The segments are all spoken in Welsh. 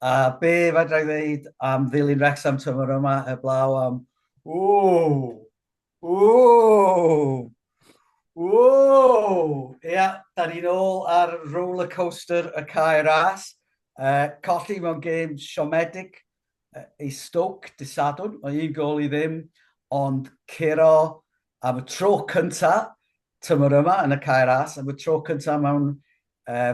A be fedra i ddeud am ddilyn Wrexham tymor yma heblaw am Ww! Ww! Ww! Ia, da ni'n ôl ar rollercoaster y cae ras. Uh, colli mewn gêm siomedig uh, i Stoke dy Sadwrn, o un gol i ddim, ond curo am y tro cynta tymor yma yn y cae ras, am y tro cynta mewn uh,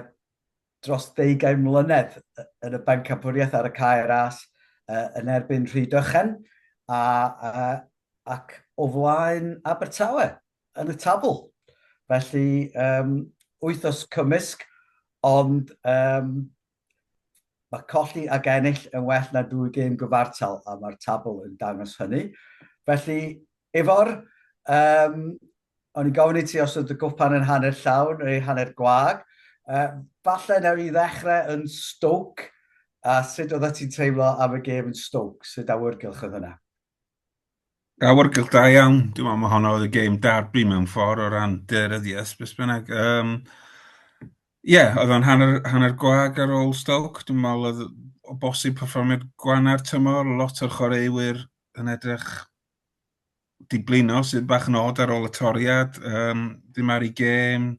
dros ddeugain mlynedd yn y bencampwriaeth ar y cae ras yn erbyn Rhydychen a, a, ac o flaen Abertawe yn y tabl. Felly, um, wythos cymysg, ond um, mae colli ag ennill yn well na dwy gêm gyfartal, a mae'r tabl yn dangos hynny. Felly, efo'r um, O'n i'n gofyn i ti os oedd dy gwpan yn hanner llawn neu hanner gwag. Uh, falle newn ni ddechrau yn Stoke, a sut oedd ti'n teimlo am y gêm yn Stoke? Sut awyrgylch oedd hynna? Awyrgylch da iawn. Dwi'n meddwl mae honno oedd y gêm darbu mewn ffordd o ran deryddiaeth, beth bynnag. Um, Ie, yeah, oedd o'n hanner, hanner gwag ar ôl Stoke. Dwi'n meddwl oedd o bosib perfformiad gwana'r tymor, lot o'r chwaraewyr yn edrych di blino sydd bach yn od ar ôl y toriad. Um, dim ar ei gêm,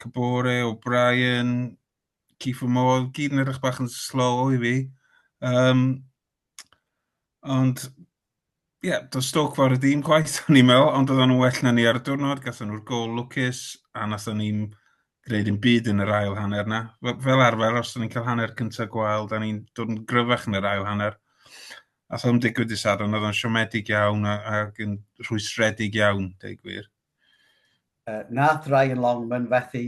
Cabore, O'Brien, Keith Modd, gyd yn edrych bach yn slow i fi. Um, ond, ie, yeah, does Stoke fawr y dîm gwaith, o'n i'n meddwl, ond oedden nhw'n well na ni ar y diwrnod, gathen nhw'r gol lwcus, a nath o'n i'n gwneud yn byd yn yr ail hanner na. Fel arfer, os o'n i'n cael hanner cyntaf gwael, da ni'n dod yn gryfach yn yr ail hanner. Ath o'n digwydd i Sadwrn, oedd o'n siomedig iawn ac yn rhwystredig iawn, dweud gwir. Uh, nath Ryan Longman fethu,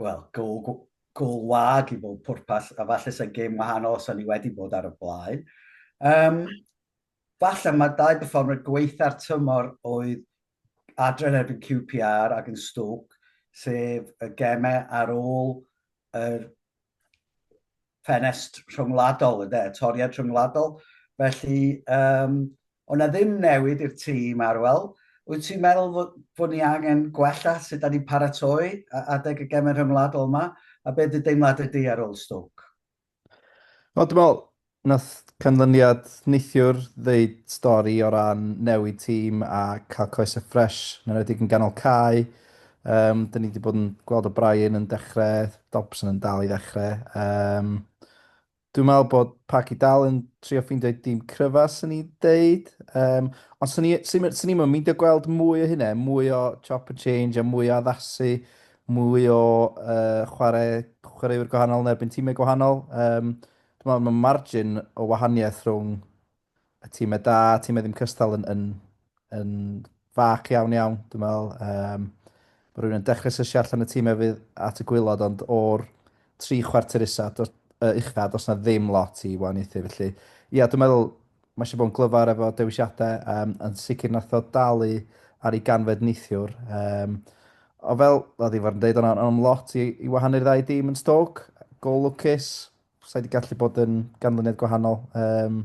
wel, gol, gol wag i bob pwrpas, a falle sy'n gêm wahanol os o'n i wedi bod ar y blaen. Um, falle mae dau performer gweitha'r tymor oedd adre yn erbyn QPR ac yn Stoke, sef y gemau ar ôl yr ffenest rhyngwladol, ynde, y toriad rhyngwladol. Felly, um, ond na ddim newid i'r tîm arwel. Wyt ti'n meddwl fod, fod ni angen gwella sut da ni'n paratoi adeg y gemau rhyngwladol yma? A beth y deimlad ydy ar ôl Stoke? Wel dwi me'wl nath canlyniad neithiwr ddeud stori o ran newid tîm a ca'l coese ffresh yn enwedig yn ganol cae. Yym 'dyn ni 'di bod yn gweld O'Brien yn dechre, Dobson yn dal i ddechre. Yym dwi'n me'wl bod Parky dal yn trio ffeindio'i dîm cryfa swn i'n deud. Yym ond swn i swn i'm swn i'm yn meindio gweld mwy o hynna, mwy o chop and change a mwy o addasu mwy o uh, chwarae, chwaraewyr gwahanol yn erbyn tîmau gwahanol. Um, dwi'n meddwl mae margin o wahaniaeth rhwng y tîmau da, tîmau ddim cystal yn, yn, yn fac iawn iawn, dwi'n meddwl. Um, mae rhywun yn dechrau sysio allan y tîmau fydd at y gwylod, ond o'r tri chwarter isa, dos, uh, uchaf, does na ddim lot i wahaniaethu. Felly, ia, dwi'n meddwl Mae eisiau bod yn glyfar efo dewisiadau, um, yn sicr nath o dalu ar ei ganfed neithiwr. Um, o fel, oedd i fod yn dweud, ond am lot i, i wahanu'r ddau dîm yn stog, gol lwcus, sa'i wedi gallu bod yn ganlyniad gwahanol. Um,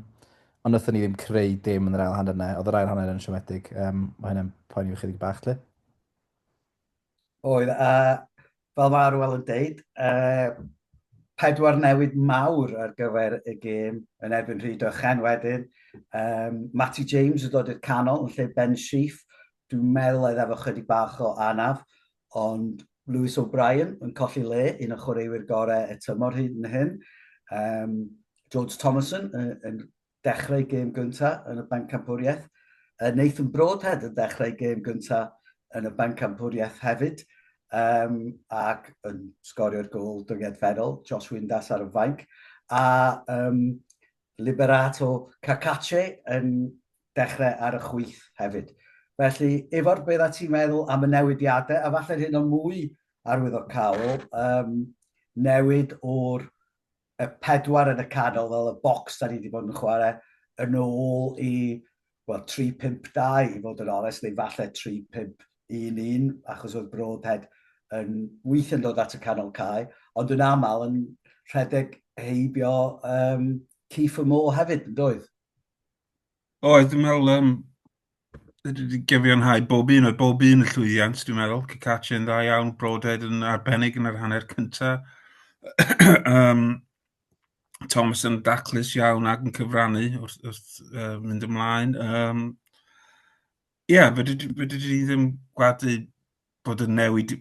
ond wnaethon ni ddim creu dim yn yr ail hanner yna. Oedd yr ail hanner yn siomedig. Um, mae hynny'n poeni fi chydig bach, lle. oedd, a fel mae Arwel yn deud, uh, pedwar newid mawr ar gyfer y gêm yn erbyn Rhyd Ochen wedyn. Um, Matty James yn dod i'r canol yn lle Ben Sheaf. Dwi'n meddwl oedd efo chydig bach o anaf, ond Lewis O'Brien yn colli le, un o chwaraewyr gorau y tymor hyn yn hyn. Um, George Thomason yn, yn dechrau gêm gynta yn y Bencampwriaeth. Yy Nathan Broadhead yn dechrau gêm gynta yn y Bencampwriaeth hefyd, um, ac yn sgorio'r gol dyngedferol, Josh Windass ar y fainc, a um, Liberato Cacace yn dechrau ar y chwyth hefyd. Felly, efo'r beth a ti'n meddwl am y newidiadau, a falle'r hyn o mwy arwyddocaol, um, newid o'r y pedwar yn y canol fel y bocs da ni wedi bod yn chwarae yn ôl i wel, 3-5-2 i fod yn onest, neu falle 3-5-1-1, achos oedd Broadhead yn weith yn dod at y canol cae, ond yn aml yn rhedeg heibio um, Keith Moore hefyd, yn doedd? Oedd, dwi'n meddwl yym fedri di gyfiawnhau bob un, oedd bob un yn llwyddiant dwi'n meddwl, Cacace yn dda iawn, Brodhead yn arbennig yn yr hanner cynta. um, Thomas yn daclus iawn ac yn cyfrannu wrth, wrth uh, mynd ymlaen. Um, Ie, yeah, fedri di ddim gwadu bod y newid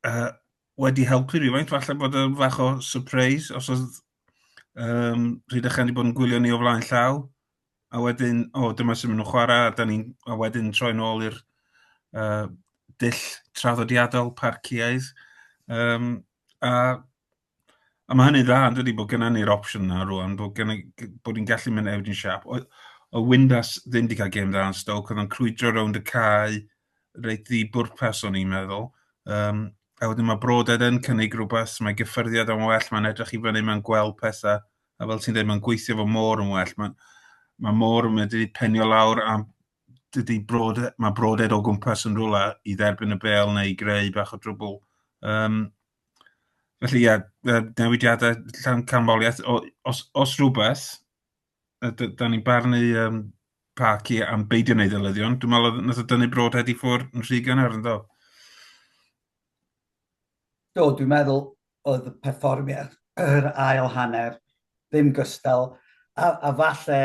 uh, wedi helpu rhywfaint, falle bod yn fach o surprise os oedd um, Rhyd a Chen wedi bod yn gwylio ni o flaen llaw. a wedyn, o, dyma sy'n mynd nhw'n chwarae, a, da ni, a wedyn troi'n ôl i'r uh, dull traddodiadol parciaidd. Um, a, a mae hynny'n dda, yn dydy, bod gennym ni'r opsiwn yna rwan, bod, gen, bod ni'n gallu mynd Eugene Sharp. O, o Windas ddim wedi cael gêm dda yn Stoke, oedd o'n crwydro rownd y cae, reit ddi bwrpas o'n i'n meddwl. Um, a wedyn mae Broded yn cynnig rhywbeth, mae gyffyrddiad o'n well, mae'n edrych i fyny, mae'n gweld pethau a fel ti'n dweud, mae'n gweithio fo môr yn well. Mae, mae môr yn mynd i penio lawr a dydy brod, mae broded o gwmpas yn rhywle i dderbyn y bel neu i greu bach o drwbl. Um, felly, ie, yeah, newidiadau llan canfoliaeth, os, os rhywbeth, da ni'n barnu um, parc i am beidio wneud y lyddion, dwi'n meddwl oedd nath o dynnu broded i ffwrdd yn rhy gynnar yn dod. Do, dwi'n meddwl oedd y perfformiad yr ail hanner ddim gystal, a, a falle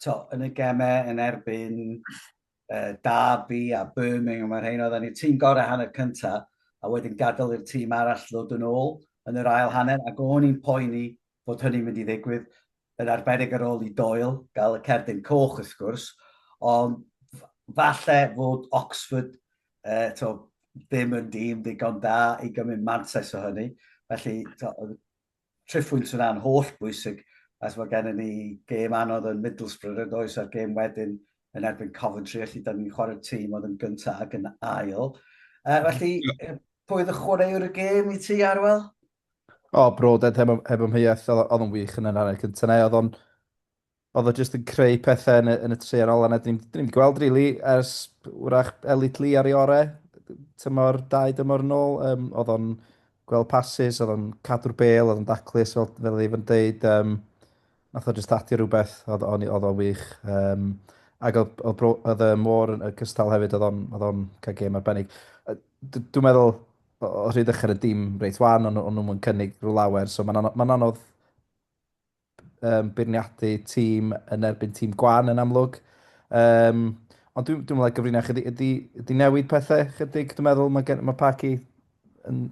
to, yn y gemau yn erbyn uh, Derby a Birmingham a'r hyn oedd ni tîm gorau hanner cyntaf a wedyn gadael i'r tîm arall ddod yn ôl yn yr ail hanner ac o'n i'n poeni fod hynny'n mynd i ddigwydd, yn arbennig ar ôl i Doyle gael y cerdyn coch wrth gwrs, ond falle fod Oxford uh, to, ddim yn dîm ddigon da i gymryd mantais o hynny. Felly, to, triffwynt yna'n holl bwysig as mae gennym ni gêm anodd yn Middlesbrough yn oes a'r gêm wedyn yn erbyn Coventry, felly da ni'n chwarae'r tîm oedd yn gyntaf ac yn ail. Uh, felly, pwy oedd y chwaraewr y gêm i ti, Arwel? O, oh, Broden, heb, heb ymheuaeth, oedd o'n wych yn yr hanner cyntaf na, oedd o'n... Oedd o jyst yn creu pethau yn y, yn y tri ar ôl, a dyn ni'n gweld, rili, really, ers wrach Elite Lee ar ei orau, tymor, dau dymor yn ôl, um, oedd o'n gweld pasys, oedd o'n cadw'r bel, oedd o'n daclus, fel, fel oedd Ifan deud, um, nath o jyst adio rhywbeth, oedd o'n oedd o'n wych. Um, ac oedd, oedd, oedd, oedd y môr yn cystal hefyd, oedd o'n cael gêm arbennig. Dwi'n meddwl, o hyd ochr y dim reit wan, ond o'n nhw'n yn cynnig rhyw lawer. So mae'n anodd, ma anodd um, beirniadu tîm yn erbyn tîm gwan yn amlwg. Um, ond dwi'n dwi meddwl gyfrinach ydy, ydy, ydy newid pethau chydig, dwi'n meddwl mae, gen, mae Parky yn...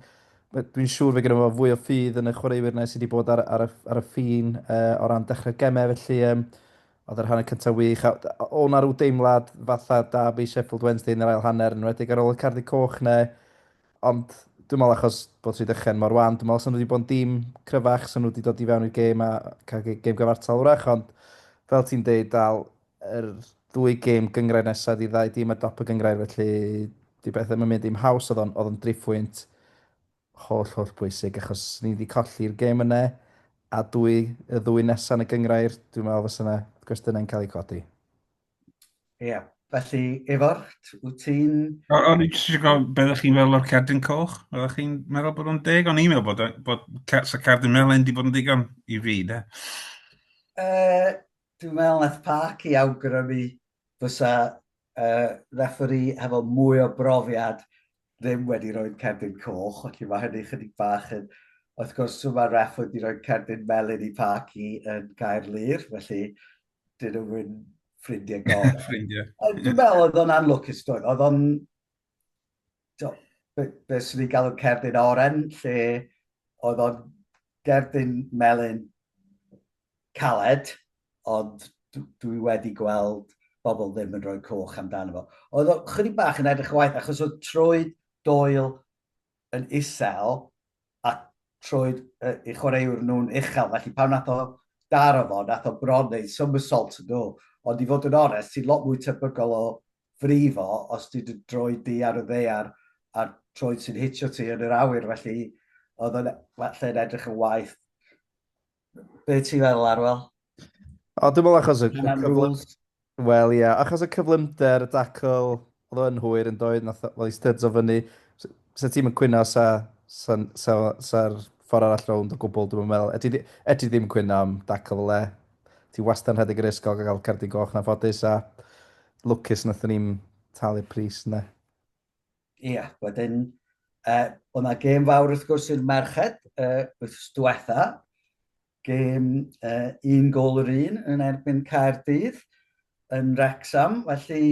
Dwi'n siŵr fe gyda fo fwy o ffydd yn y chwaraewyr na sydd wedi bod ar, ar, y, ar y ffin uh, o ran dechrau gemau, felly um, Oedd yr hanner cyntaf wych, a oedd 'na rhyw deimlad fatha derby Sheffield Wednesday yn yr ail hanner, yn enwedig ar ôl y cardyn coch 'na, ond dwi'n meddwl achos bod Rhydychen mor wan, dwi'n meddwl 'sen nhw wedi bod yn dîm cryfach, 'sen nhw wedi dod i fewn i'r gêm a cael gêm gyfartal wrach, ond fel ti'n deud, dal yr ddwy gêm gyngrair nesaf ydi ddau dîm ar dop y gyngrair, felly 'di beth ddim yn mynd i'm haws, oedd o'n driphwynt Holl, holl bwysig achos ni 'di colli'r gêm yna a dwy, y ddwy nesa yn y gynghrair, dwi'n meddwl fysa 'na gwestiynau'n cael eu codi. Ia, felly Ifor, wyt ti'n... O- O'n i jyst isio gofyn be' oddech chi'n feddwl o'r cerdyn coch? Oeddech chi'n meddwl bod o'n deg? O'n i'n meddwl bod yy bod ca- 'sa cerdyn melyn 'di bod yn ddigon i fi de. Yy Dwi'n meddwl wnaeth Parky awgrymu fysa y refferî hefo mwy o brofiad ddim wedi rhoi cerdyn coch, felly mae hynny chydig bach yn... Wrth gwrs, mae'r ref wedi rhoi cerdyn melyn i Parky yn Caerlŷr, felly dyn nhw'n ffrindiau gorau. ffrindiau. Dwi'n meddwl oedd o'n anlwcus, doedd. Oedd o'n Do, be, be sy'n ei galw cerdyn oren, lle oedd o'n gerdyn melyn caled, ond dwi wedi gweld bobl ddim yn rhoi coch amdano fo. Oedd o'n chydig bach yn edrych waith, achos oedd trwy doel yn isel, a trwy uh, i chwaraewr nhw'n uchel, felly pan nath o daro fo, nath o bron neu somersault yn nhw, ond i fod yn onest, ti'n lot mwy tebygol o frifo os ti'n dy droed di ar y ddaear a'r troed sy'n hitio ti yn yr awyr, felly oedd yn falle yn edrych yn waith. Be ti'n feddwl, Arwel? O, dwi'n meddwl achos y cyflym... Wel, ie, yeah. achos y cyflymder, y dacl, oedd o'n hwyr yn doedd, nath fel i styds o fyny. Sa ti'n mynd cwyno sa, sa, sa, sa ffordd arall rownd o gwbl, dwi'n meddwl. Eti, eti ddim cwyno am dacl fel e, Ti wastad yn rhedeg yr risg o gael cerdyn goch yn anffodus a lwcus nathon ni'm talu'r pris ynde? Ia, wedyn uh, o' 'na gêm fawr wrth gwrs i'r merched uh, wythnos diwetha, gêm uh, un gol yr un yn erbyn Caerdydd yn Wrexham, felly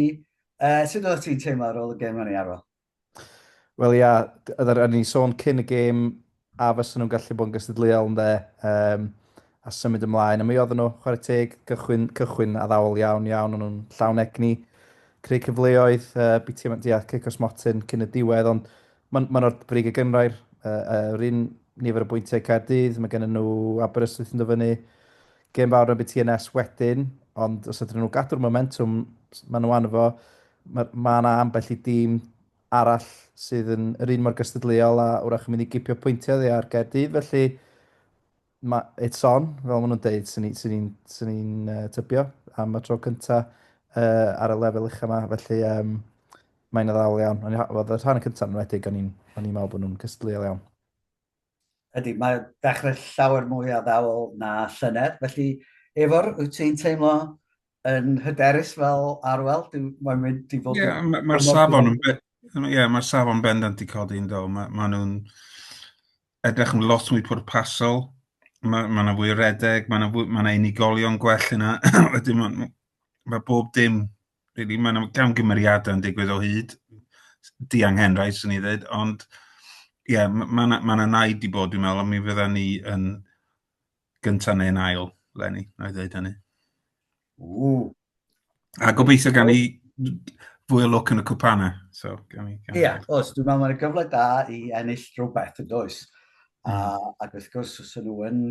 uh, sut oeddet ti'n teimlo ar ôl y gêm hynny Arwel? Wel ia, d- oedden o'n i'n sôn cyn y gêm a fysa nhw'n gallu bod yn gystadleuol ynde, um, a symud ymlaen. A mi oedden nhw, chwarae teg, cychwyn, cychwyn a ddawol iawn iawn, o'n nhw'n llawn egni, creu cyfleoedd, uh, biti yma dia, cic os motyn cyn y diwedd, ond mae'n ma o'r brig y gynrair, uh, uh, yr un nifer o bwyntiau Caerdydd, mae gen nhw Aberystwyth yn dyfynu, gêm fawr yn biti yn es wedyn, ond os ydyn nhw gadw'r momentum, maen nhw anfo, Mae, mae yna ambell i dîm arall sydd yn yr un mor gystadleuol a wrach yn mynd i gipio pwyntiau ddi ar Gaerdydd, felly mae it's on, fel maen nhw'n deud, sy'n ni'n sy ni, sy ni uh, tybio am y tro cyntaf uh, ar y lefel uchaf yma, felly um, mae'n addawol iawn. Ond oedd y rhan cyntaf yn wedig, o'n i'n meddwl bod nhw'n cystadleuol iawn. Ydy, mae dechrau llawer mwy addawol na llynedd, felly Efor, wyt ti'n teimlo yn hyderus fel arwel. Mae'n mynd i fod... Ie, mae'r ma safon yn... Ie, yeah, mae'r safon bendant i codi yn do. Mae ma nhw'n edrych yn lot mwy pwrpasol. Mae yna ma fwy o redeg, mae yna ma unigolion gwell yna. Wedyn mae ma bob dim, really, mae yna gamgymeriadau yn digwydd o hyd. Diang Henrai, swn i ddweud, ond ie, yeah, mae yna ma naid i bod, dwi'n meddwl, ond mi fydda ni yn Gynta neu'n ail, Lenny, na i ddweud hynny. Ww. A gobeithio gan i fwy o lwc yn y cwpana. So, gan i, gan Ia, os dwi'n meddwl mae'n gyfle da i ennill rhywbeth yn does. Mm. A, hmm. ac wrth gwrs, os nhw yn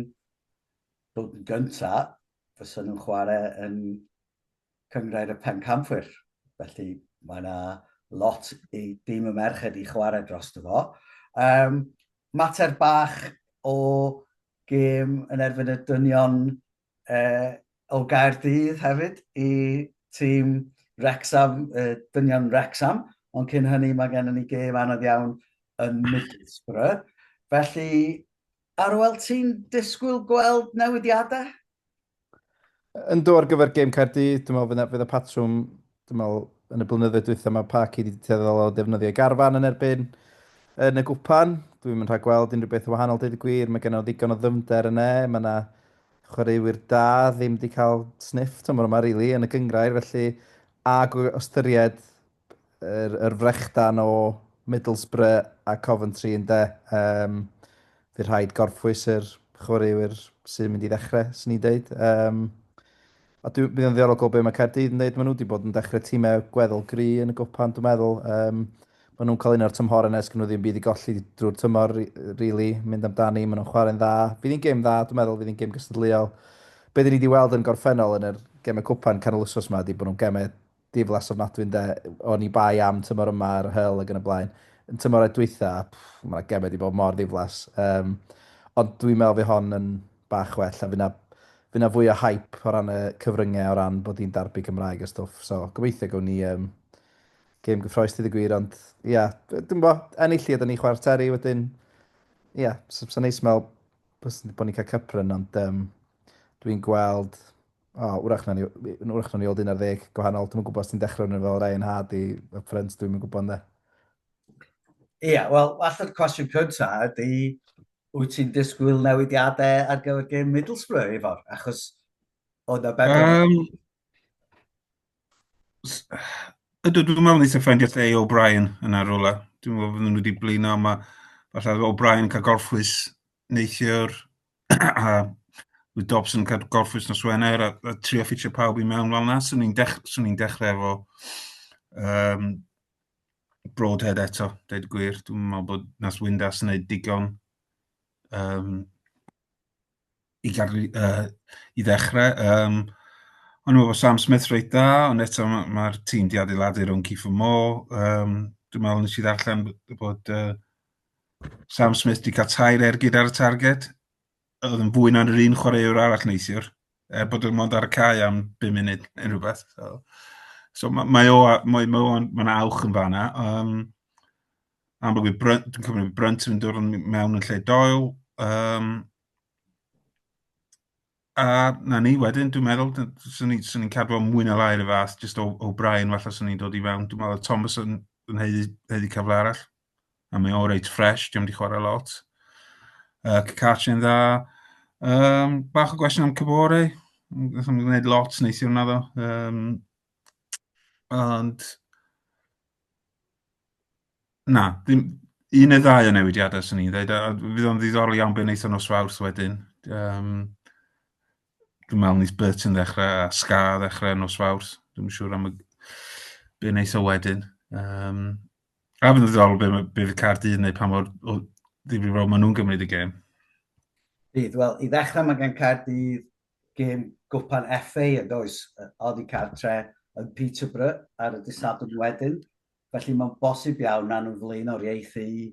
dod yn gynta, fysa nhw'n chwarae yn cyngrair y pen camfwyr. Felly mae yna lot i dîm y merched i chwarae dros dy fo. Um, mater bach o gêm yn erbyn y dynion uh, o Gaerdydd hefyd i tîm Wrexham, uh, dynion Wrexham, ond cyn hynny mae gennym ni gêm anodd iawn yn Middlesbrough. Felly, Arwel, ti'n disgwyl gweld newidiadau? Yndw ar gyfer gêm Caerdydd, dwi'n meddwl fydd 'na fydd 'na patrwm, dwi'n meddwl yn y blynyddoedd dwytha mae Parky wedi tueddol o ddefnyddio ei garfan yn erbyn yn y gwpan. Dwi'm yn rhagweld unrhyw beth yn wahanol deud y gwir, mae genno ddigon o ddyfnder yn e, mae yna chwaraewyr da ddim wedi cael sniff tymor yma rili yn y gyngrair felly a gw- ystyried yr, yr frechdan o Middlesbrough a Coventry yn de. Um, Fydd rhaid gorffwys yr chwaraewyr sy'n mynd i ddechrau, sy'n ni'n deud. Um, a dwi'n bydd yn ddiorol gweld beth mae Caerdydd yn dweud. Maen nhw wedi bod yn dechrau tîmau gweddol gri yn y gwpan, dwi'n meddwl. Um, maen nhw'n cael un o'r tymhor yn esgyn nhw ddim byd i golli drwy'r tymor, really, mynd amdani, maen nhw'n chwarae'n dda. Fydd hi'n gêm dda, dwi'n meddwl, fydd hi'n gêm gystadleuol. Be dyn ni wedi weld yn gorffennol yn yr gemau cwpan canol ysos yma, di bod nhw'n gemau diflas ofnadwy ynde, o'n i bai am tymor yma ar y hyl ac yn y blaen. Yn tymor dwytha, mae yna gemau wedi bod mor ddiflas. Um, ond dwi'n meddwl fi hon yn bach well a fyna, fyna fwy o hype o ran y cyfryngau o ran bod hi'n darbu Cymraeg a stwff. So, gobeithio gwn ni um, gêm gyffroes dydd y gwir, ond ia, yeah, dwi'n bo, ennill i ydyn ni chwarae terri wedyn. Ia, yeah, sy'n so, so neis meddwl bod ni'n cael cypryn, ond um, dwi'n gweld O, wrach na ni, wrach na ni oedd un ar ddeg gwahanol. Dwi'n gwybod os ti'n dechrau nhw fel Ryan Hard i Up Front, dwi'n gwybod ynddo. Ie, yeah, wel, allan cwestiwn cynta ydy, wyt ti'n disgwyl newidiadau ar gyfer gym Middlesbrough, Ifor? Achos o na beth... Um, ydw, dwi'n meddwl nes i ffendio lle i O'Brien yn arwla. Dwi'n meddwl fydden nhw wedi blino, mae falle O'Brien cael gorffwys neithiwr a with Dobson yn gorffwys nos Wener a, a trio ffitio pawb i mewn fel yna. Swn i'n dech, dechrau efo um, Broadhead eto, dweud gwir. Dwi'n meddwl bod nas Windas yn gwneud digon um, i, gadw, uh, i ddechrau. Um, ond dwi'n meddwl bod Sam Smith reit dda, ond eto mae'r ma, ma tîm di adeiladu rhwng Keith Moore. Um, dwi'n meddwl nes i ddarllen bod uh, Sam Smith wedi cael tair ergyd ar y targed. Oedd yn fwy na'r un chwaraewr arall neithiwr. Er bod yn mond ar y cae am 5 munud yn rhywbeth. So, so mae, mae o, mae, mae o'n, mae'n awch yn fanna. Um, amlwg i Brunt, dwi'n cymryd Brunt yn dod mewn yn lle Doyle. Um, A 'na ni wedyn, dwi'n meddwl, d- 'swn i'n 'swn i'n cadw o mwy na lai 'r un fath, jyst o- O'Brien falle 'swn i'n dod i fewn. Dwi'n meddwl oedd Thomas yn yn haeddu haeddu cyfle arall, a mae o reit ffresh, 'di o'm 'di chwarae lot. Yy Cacarchi'n dda. Yym bach o gwestiwn am Kabore, n- nath o'm gwneud lot neithiwr naddo, yym ond Na, dim... un neu ddau o newidiadau 'swn i'n ddeud, a fydd o'n ddiddorol iawn be wneith o nos Fawrth wedyn, yym dwi'n meddwl wneith Burton ddechrau a Ska ddechrau nos Fawrth, dwi'm yn siŵr am y be wneith o wedyn. Yym a fydd o'n ddiddorol be ma' be fydd Caerdydd yn wneud pa mor o ddifrifol maen nhw'n gymryd y gêm. Bydd, wel i ddechrau mae gan Caerdydd gêm gwpan FA yn does? Oddi cartre yn Peterborough ar y dydd Sadwrn wedyn, felly mae'n bosib iawn na nhw'n flaenoriaethu i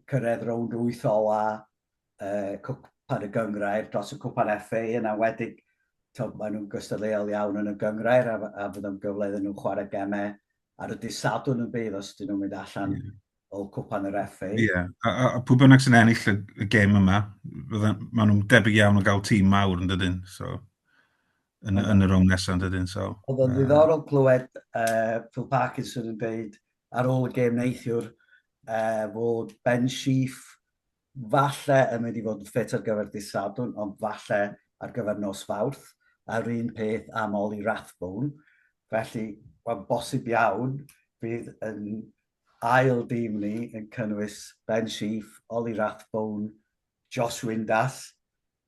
cyrraedd rownd wyth ola uh, cwpan y gyngrair dros y cwpan FA yn awedig tog, maen nhw'n gystadleuol iawn yn y gyngrair a, a fydd o'n gyfle iddyn nhw chwarae gemau ar y dydd Sadwrn yn bydd os dyn nhw'n mynd allan o cwpan yr FA. Ie, yeah. a, a, a pwy bynnag sy'n ennill y, y gêm yma, maen nhw'n debyg iawn o gael tîm mawr yn dydyn, so, yn, yn, yn y rownd nesaf yn dydyn. So, Oedd yn ddiddorol clywed uh, Phil Parkinson yn dweud ar ôl y gêm neithiwr uh, fod Ben Sheaf falle yn mynd i fod yn ffit ar gyfer dydd Sadwn, ond falle ar gyfer nos Fawrth, a'r un peth am Oli Rathbone. Felly, mae'n bosib iawn bydd yn Ail dîm ni yn cynnwys Ben Sheaf, Ollie Rathbone, Josh Windass,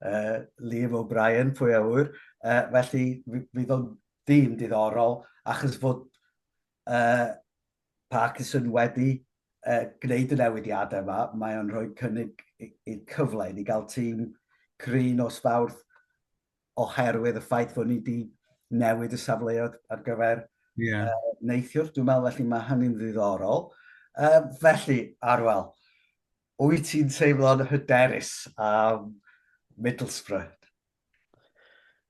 uh, Liam O'Brien, pwy a ŵyr. Uh, felly fydd o'n dîm diddorol achos fod uh, Parkinson wedi uh, gwneud y newidiadau yma, mae o'n rhoi cynnig i'r cyfle i ni gael tîm green o sbawrth oherwydd y ffaith fod ni wedi newid y safleoedd ar gyfer yeah. uh, neithiwr. Dwi'n meddwl felly mae hynny'n ddiddorol. Uh, felly, Arwel, wyt ti'n teimlo'n hyderus am Middlesbrough?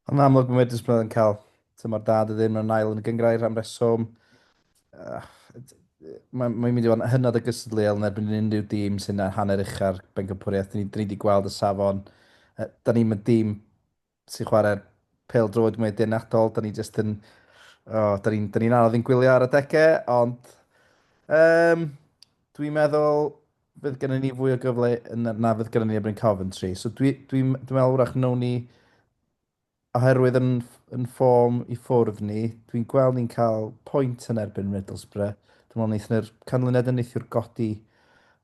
Yn amlwg mae Middlesbrough yn cael tymor da, dy ddim yn ail yn y gyngrair am reswm. Mae'n mae mynd i fod yn hynod o gystadleuol yn erbyn unrhyw dîm sy'n hanner ucha'r bencampwriaeth. Dyn ni, dyn ni wedi gweld y safon. Da ni'n mynd dîm sy'n chwarae'r pel droed mwy dynadol. Da ni jyst yn... Oh, da ni'n ni, ni anodd yn gwylio ar y degau, ond... Um, dwi'n meddwl fydd gennym ni fwy o gyfle na fydd gennym ni erbyn Coventry. So dwi'n dwi, dwi meddwl wrach nawn ni Oherwydd yn yn ffom i ffwrdd ni, dwi'n gweld ni'n cael pwynt yn erbyn Middlesbrough. Dwi'n meddwl wnaethon nhw'r canlyniad yn neithiwr godi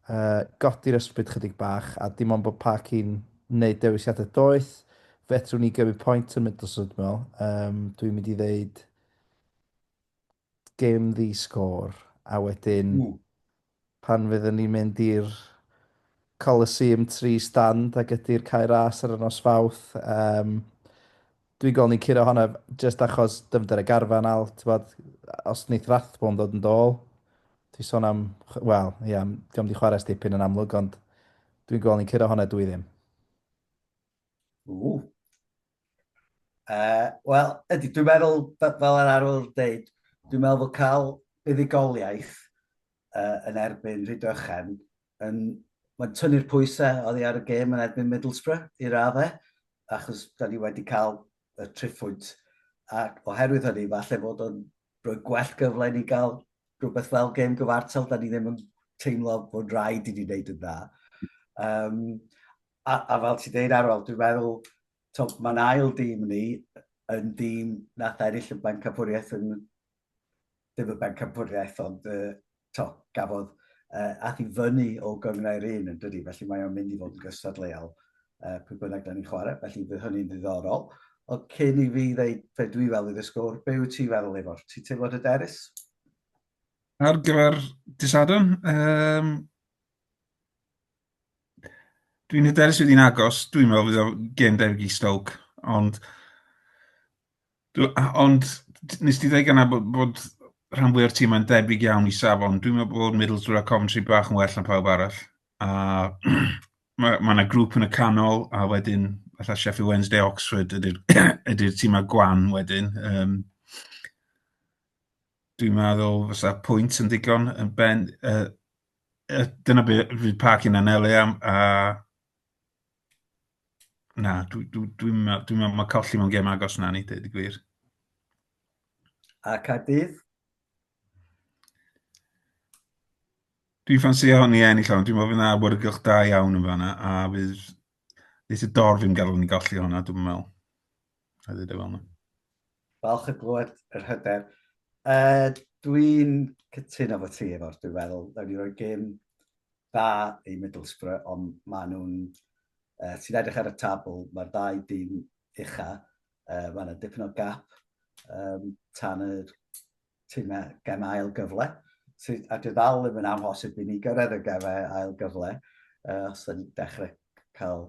uh, godi'r ysbryd chydig bach a dim ond bod Park yn wneud dewisiadau doeth. Fedrwn ni gymryd pwynt yn Middlesbrough dwi'n meddwl. Um, dwi'n mynd i ddeud gêm ddi sgôr a wedyn pan fydden ni'n mynd i'r Coliseum tri stand ag ydy'r Cae Ras ar y nos Fawrth um, dwi'n gol ni'n curo honna just achos dyfnder y garfan al bod, os neith Rathbone ddod yn dôl dwi'n sôn am wel ia yeah, diom di chwarae stipyn yn amlwg ond dwi'n gol ni'n curo honna dwi ddim. Ww. Uh, Wel, ydy, dwi'n meddwl, fel yr arwr dweud, dwi'n meddwl bod cael buddugoliaeth uh, yn erbyn Rhydychen yn... Mae'n tynnu'r pwysau oddi ar y gêm yn erbyn Middlesbrough i raddau, achos da ni wedi cael y triffwynt. Ac oherwydd hynny, falle bod o'n rhoi gwell gyfle ni gael rhywbeth fel gêm gyfartal, da ni ddim yn teimlo bod rhaid i ni wneud yn dda. Um, A, a fel ti'n deud Arwel, dwi'n meddwl, mae'n ail dîm ni yn dîm nath ennill y bencampwriaeth yn ddim y bencampwriaeth, ond uh, to, gafodd uh, ath i fyny o gyngrau'r un yn dydi, felly mae o'n mynd i fod yn gystadleuol uh, pwy bynnag da ni'n chwarae, felly bydd hynny'n ddiddorol. Ond cyn i fi ddeud fe dwi fel i ddysgwr, be wyt ti feddwl efo'r? Ti teimlo dy derys? Ar gyfer dysadwn, um, Dwi'n hyderus fydd hi'n agos, dwi'n meddwl fydd o'n gêm debyg i Stoke, ond dw- a- ond t- nes di ddweud gynna bod bod rhan fwya o'r timau'n debyg iawn i safon, dwi'n meddwl bod Middlesbrough a Coventry bach yn well na pawb arall, a ma' ma' 'na grŵp yn y canol, a wedyn fatha Sheffield Wednesday, Oxford ydi'r ydi'r timau gwan wedyn yym dwi'n meddwl fysa pwynt yn ddigon yn ben yy Uh, dyna beth fydd parc yn anelu am, a... Na, dwi'n dwi, dwi, dwi meddwl dwi mae colli mewn gem agos na ni, dweud y gwir. A Cadydd? Dwi'n ffansi hon i ennill hon, dwi'n meddwl fydd yna awyrgylch da iawn yn fanna, a fydd Nes y dorf yn gael ni golli hwnna, dwi'n meddwl. A ddweud e fel yna. Falch o glywed yr hyder. Uh, dwi'n cytuno fo ti efo'r dwi'n meddwl. Dda ni roi gym da i Middlesbrough, ond maen nhw'n... Uh, ti'n edrych ar y tabl, mae'r ddau dîm ucha. Uh, mae yna dipyn o gap um, tan y tîmau gem ail gyfle. So, a dwi ddal yn amhosib i ni gyrraedd y gemau ail gyfle. Uh, os ydyn ni'n dechrau cael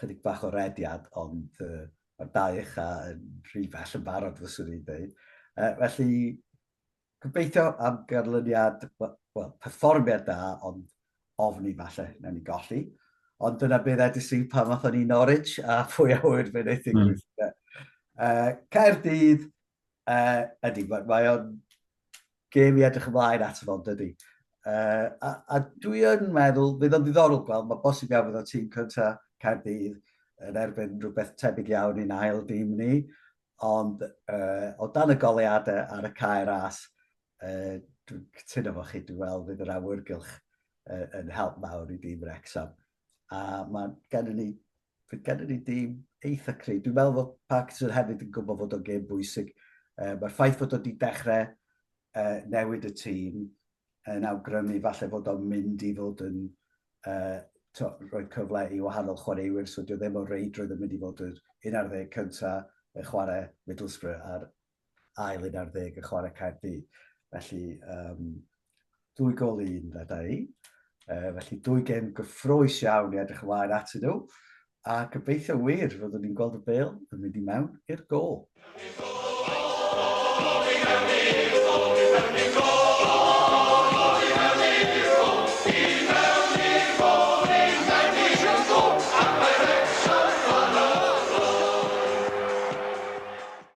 Chydig bach o rediad, ond uh, mae'r dau echa yn rhy bell yn barod, fyswn i'n dweud. Uh, felly, gobeithio am ganlyniad, well, perfformiad da, ond ofni falle, na ni golli. Ond dyna beth edrych sy'n pan fath o'n i Norwich, a pwy a hwyr fe wneud digwydd. Mm. Uh, Caerdydd, Uh, ydy, mae, mae o'n gêm i edrych ymlaen at fel dydy. Uh, a, a dwi yn meddwl, bydd o'n ddiddorol gweld, mae bosib iawn fydd o'n tîm cynta Caerdydd yn erbyn rhywbeth tebyg iawn i'n ail dîm ni, ond uh, o dan y goleadau ar y cair as, uh, dwi'n cytuno fo chi, dwi'n weld fydd yr awyrgylch uh, yn help mawr i dîm Rexham. A mae gennym ni Fe gennym ni dîm eitha cryf. Dwi'n meddwl fod Parkinson hefyd yn gwybod fod o'n gêm bwysig. Uh, Mae'r ffaith fod o'n di dechrau uh, newid y tîm yn awgrymu falle fod o'n mynd i fod yn uh, to, rhoi cyfle i wahanol chwaraewyr, so dio ddim o reidrwydd yn mynd i fod yn un ar ddeg cyntaf yn chwarae Middlesbrough ar ail un ar ddeg yn chwarae Caerdydd. Felly, um, dwy gol i un, fe da i. Uh, felly, dwy gem gyffroes iawn i edrych ymlaen at nhw. A gobeithio wir, fyddwn ni'n gweld y bel yn mynd i mewn i'r gol.